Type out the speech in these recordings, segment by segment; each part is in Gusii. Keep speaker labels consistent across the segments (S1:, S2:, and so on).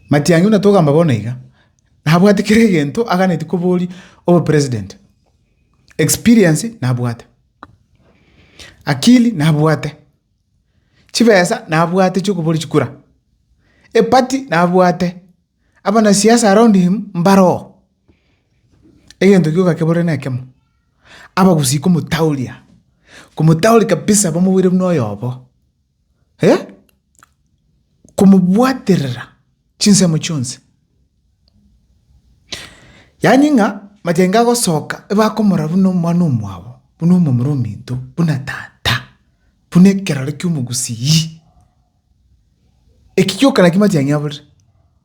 S1: Matiang'i buna togamba bono iga, nabwate kera egento aganeti koboria obo president. Experience nabwate, akili nabwate, chibesa nabwate chiokoboria chikura, eparty nabwate, abanasiasa around him mbaroo. Egento gioka keborire nekemo, abagusii komotaoria, komotaoria kabisa bamoboire buna oyobo, eh! Komobwaterera chinsemo chionsi. Yaani ng'a mayengo agosoka ebakomorora buna omwana omwabo, buna omomura ominto, buna tata, buna ekerore kiomogusii. Eki gioka naki mayengo aborire.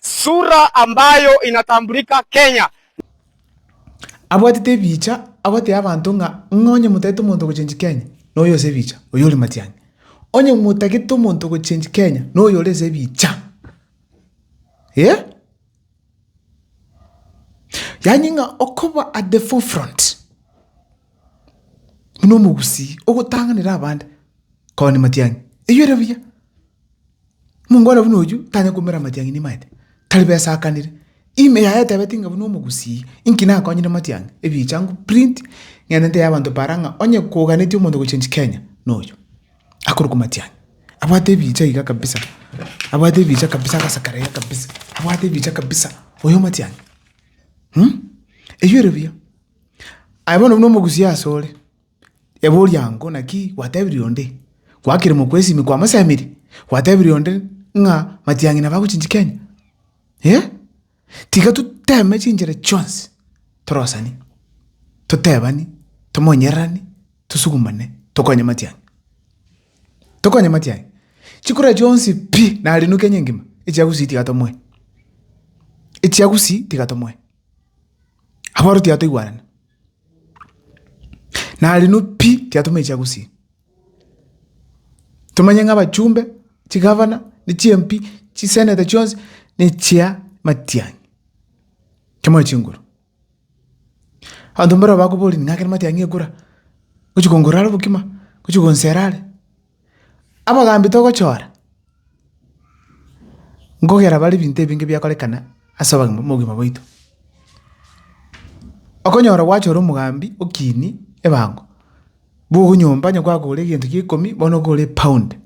S2: Sura ambayo inatambulika Kenya.
S1: Abwatete ebiicha agotebia abanto ng'a ng'a onye motagete omonto ogochengi Kenya noyo ose ebiicha, oyo ore matiang'i. Onye motagete omonto ogochengi Kenya noyo ore ase ebiicha. Eh? Yaani ng'a okoba at the forefront buna omogusii ogotang'anera abande, koba ne matiang'i. Eyio ere buya. Omonto buna oyio tanyare koumera amatiang'ani amaete, tari besakanire. Ime yaye etebeti ng'a buna omogusii, inki nakonyire matiang'i? Ebicha nko print, ng'ende ntebie abanto paara ng'a onye koganetie omonto gochange Kenya, noyo. Akorokwa matiang'i. Abwate ebicha iga kabisa, abwate ebicha kabisa agasekera iga kabisa, abwate ebicha kabisa, oyo matiang'i. Eyio ere buya. Aye bono buna omogusii asore, Ebori ango, naki gwatebirie onde? Gwakire mokwesimi kwamosemerie? Gwatebirie onde ng'a matiang'ina bagochinchia Kenya? Eh? Tiga toteme chinchera chionsi torosani, totebani, tomonyererani, tosugumane, tokonye matiang'ina. Tokonye matiang'ina. Chikura chionsi pi nari nu Kenya engima, echia gusii tiga tomoe, echia gusii tiga tomoe. Aboro tiga toigwarane. Narino pi tiatomaicha gusii. Tomanye ng'a abachumbe, chigavana, ne chi MP, chi senator chionsi ne chia matiang'i. Tomoe chinguru. Abanto mbaro bakoboria ng'a ekero matiang'i ekura, ngochi kongora are bokima, ngochi gonsera are. Abogambi togochora nkogera bare ebinto ebinge biakorekana ase obogima obogima bwaito. Okonyora gwachora omogambi okiini ebango, bwogo nyomba onye kwagora egento gie ekeomi bono okore pound.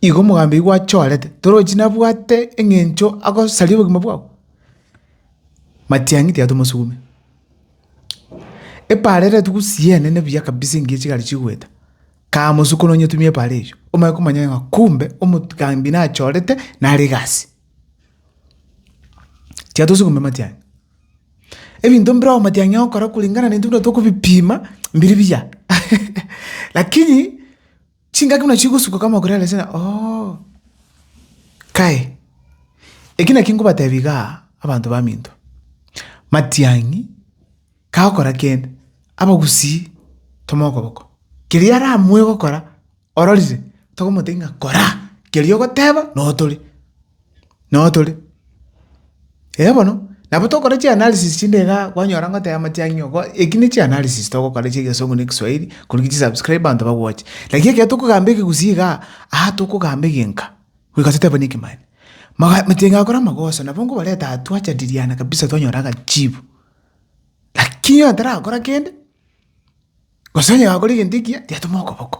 S1: Igo omogambi oyio gwachorete torochi nabwate eng'encho agosaria obogima bwao? Matiang'i tiga tomosugume. Epaara ere tugusie eene nebuya kabisa engiya chigari chigoeta, kamosuku nonyetumia epaara eywo, omanye komanya ng'a kumbe omogambi nachorete nare egasi. Tiatosi komia amatiang'i, ebinto mbire amatiang'i ogokora kulingana na intwe buna tokobipima, mbiri biya lakini. Chingaki buna chigosuka kamokore ase na oo. Kae, eki nakio nkobatebia igaa, abanto baminto, matiang'i kagokora kende, abagusii toma okoboko, keria aramue gokora ororire, tokomotebia ng'a kora keria ogoteba notore. Noo tore, eh bono, nabo tokore chianalysis chinde igaa kwanyora ngoteba amatiang'i ng'a ko eki ne chianalysis togokora chia egesungu na ekeswahiri koriki chisubscribe abanto bagwoche. Lakini ekero tokogamba ekegusii igaa, aa tokogamba egenka, goika toteba niki manye. Maga amatiang'i agokora amagoso nabo nkobareta aa twajadiliana kabisa twanyora agachibu. Lakini oyo tarakora kende, gose onye gakore egento ekiya, tiatomokoboko.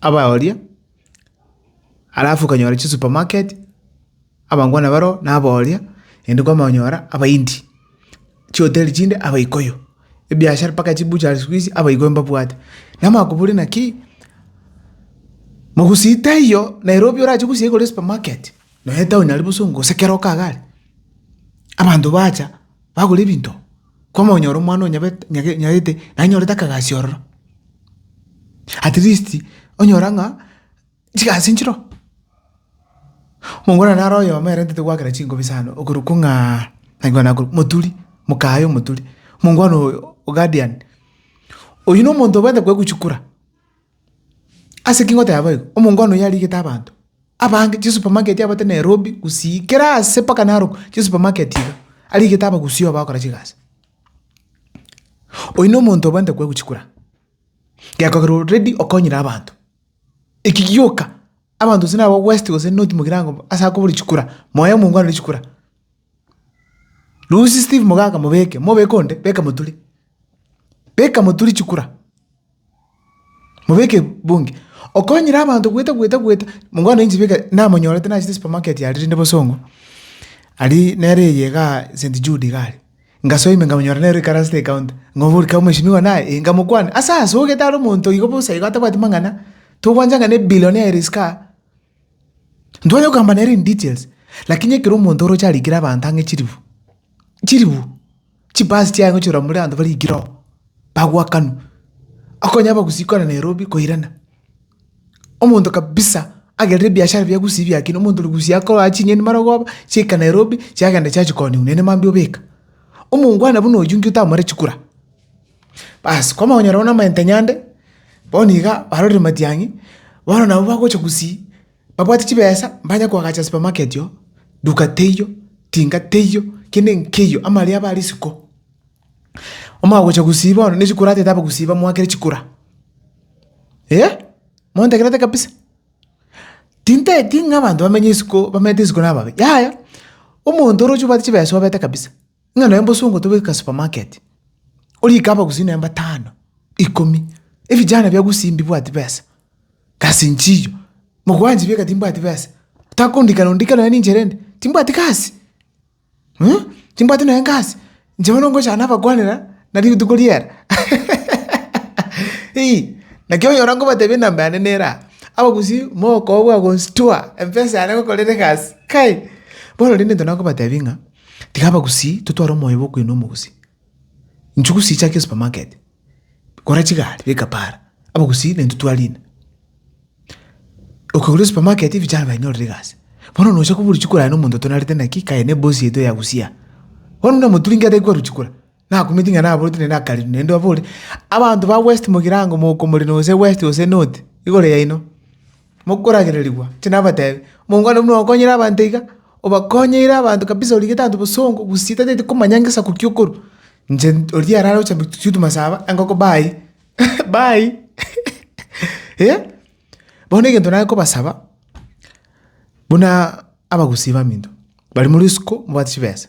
S1: abaoria, alafu okanyora chisupermarket, abangwana bareo nabaoria, naende kwamanya konyora abaindi, chihoteli chinde abaikoyo, ebiashara mpaka chibuchari siku hizi abaikoyo mbabwate. Namanya koboria naki, mogusii taiyo Nairobi orache gosia igoro ya supemarket, nonye etaoni aria bosa ongo gose kera okaga are, abanto bacha bagora ebinto. Kwamonyora omwana onyabete nyage nyarete naye nyorete akagasio ororo, at least onyora ng'a chigasi nchiroo. Omongwana naro oyomo ere ntete goakera chingobi sana okorokwa ng'aa naigwa nakorwa moturi, mokaye omoturi. Mongwana oyo ogadian, oyio nomonto obwate koeguchikura. Ase ki ngoteba boigo? Omongwana oyio arigete abanto abange chisupermarket abagote Nairobi gusii kera aase mpaka Narok chisupermarket iga, arigete abagusii aba bagokora chigasi. Oyio nomonto obwenerete koegwa chikura, gekogera already okonyire abanto. Eki gioka abanto gose naba west gose north mogirango mbu ase akoboria chikura, moe omongwana oria chikura. Lusia Steve Mogaka mobeke, mobeke onde, beka Muturi, beka Muturi chikura. Mobeke ebungi. Okonyire abanto goeta goeta goeta, mokwana inche beka namonyorete nachete supermarket aria rende bosongo, aria nere eye igaa St Jude iga aria. Ngasoa ime nkamonyora nere oikaransete ecounter, ng'oboria kaba mweshimiwa naye? Ee nkamokwana. Asa asogete are omonto oigo bosa igo atabwati mang'ana, togwancha ng'a ne billionaire isiko aa. Ntware kogamba nere in details, lakini ekero omonto oroche arikire abanto ang'e chiribu, chiribu, chibasi chiaye gochia korwa moria abanto barikire oo, bagoakanwa, akonya abagusii korwa Nairobi koirana, omonto kabisa agerire ebiashara bia gusii biakina, omonto origusii akorwaa ching'eni marogoba, chiaika Nairobi, chiagenda chiachia koonia oino, nere mambia obeka. Omongwana buna oyio inki otamoreti kura? Baas, kwamokonyora bono amagento a nyande, bono iga barorire matiang'i, bono nabo bagocha gusii, babwate chibesa mbanye koagacha supermarket oo, duka teiyo, tinga teiyo, kende nkeiyo, amaria aba risiko. Omagocha gusii bono, ne chikura atete aba gusii bamoakere chikura. Eeh, montegerete kabisa? Tinteti ng'a abanto bamenye isiko, bamenyete isiko nababe, yaya, omonto oroche obwate chibesa obete kabisa. Ng'a nonya mbosongo togeka supermarket, orie ikaba gusii nonya mbatano, ikomi, ebijana bia gusii mbibwati besa, gasi nchiyo, mogwanchi bieka timbwati besa, takondikana ondike nonya ninche rende, timbwati gasi, mh, timbwati nonya gasi, inche bono ngochaka nabakwanera na rituko riera eeh. Naki onyora nkobatebia enamba yane nere aa, abagusii mokooo bwa gonsitua, mpesa yane ngokorera egasi, kai! Bono rende intwe nakobatebia ng'a. Tiga abagusii totware omoyo bw'okwena omogusii. Inchuo gusii chake supermarket, gora chigari beka para, abagusii naintwe twarina. Okegora supermarket vijana bainyorire egasi. Bono nocha kobua oruchiko oraye na omonto otonarete naki kaye na ebosi yaito ya gusia. Bono buna moturi inki ataigwa ruchiko ora? Nakumeti ng'a naboreti naende akariri, naende abore, Abanto ba West mogirango mokomori nose West gose North, igoro yaino, mokoragererigwa. Inche nabatebia, omonto kare buna okonyire abanto iga, obakonyeire abanto kabisa origete abanto bosongo gusii tataeti komanya ngesaku ki okorwa. Inche oria arare gocha mbe tutu masaba, engoko bayi, bayi, eh. Bono egento nare kobasaba, buna abagusii baminto, baria more isiko, mobwate chibesa,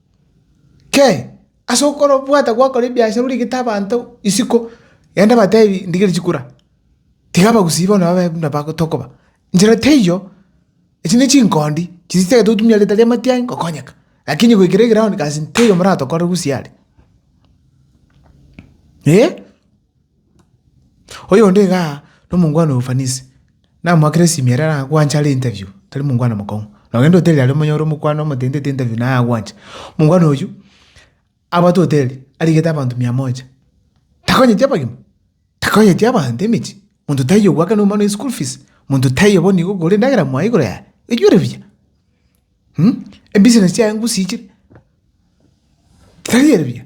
S1: Kee! Ase okorobwata gwakora ebiasara origete abanto isiko, rende batebi ndigerie chikura, tiga abagusii bono babe buna bago tokoba. Nchera teiyo, echi ne chinkondi chiri chitagete gotumia rieta ri'amatiari gokonyeka, lakini goikera egraound gasi teiyo moratokorere gusii are, eh. Oyonde iga nomongwana ofanisi, namoakera esimi ere aragwanche are interview, tari mongwana mokong'u. Nogende hoteli aria omonyore omokwana omotentete interview naye agwanche. Mongwana oyio, abwate hoteli, arigete abanto mia moja, takonyeti abagima, takonyeti abanto emechie, monto taiyo ogwakana omwana oyo eschool fees, monto taiyo bono igo okore endagera moa igoro yaye, oyio ore buya. Ebusiness chiaye ngosichire, tari ere buya.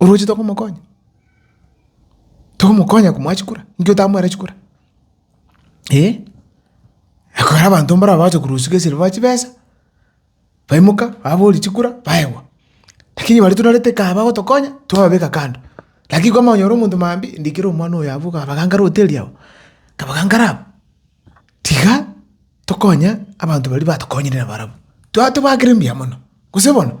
S1: oroche tokomokonya, tokomokonya komoa chikura, nki otamwera chikura? Eeh, ekero abanto mbarabwo bagocha korusia gesiro ba chibesa, baimoka baboria chikura baegwa. Lakini baria torarete kaba bagotokonya, twababeka kando. Lakini kwamanya onyore omonto mambia, ndikire omwana oyo abwo kabagangare hoteli abwo, kabagangare abwo, tiga tokonye abanto baria batokonyire nabarabwo, twa tobakere mbuya mono, gose bono.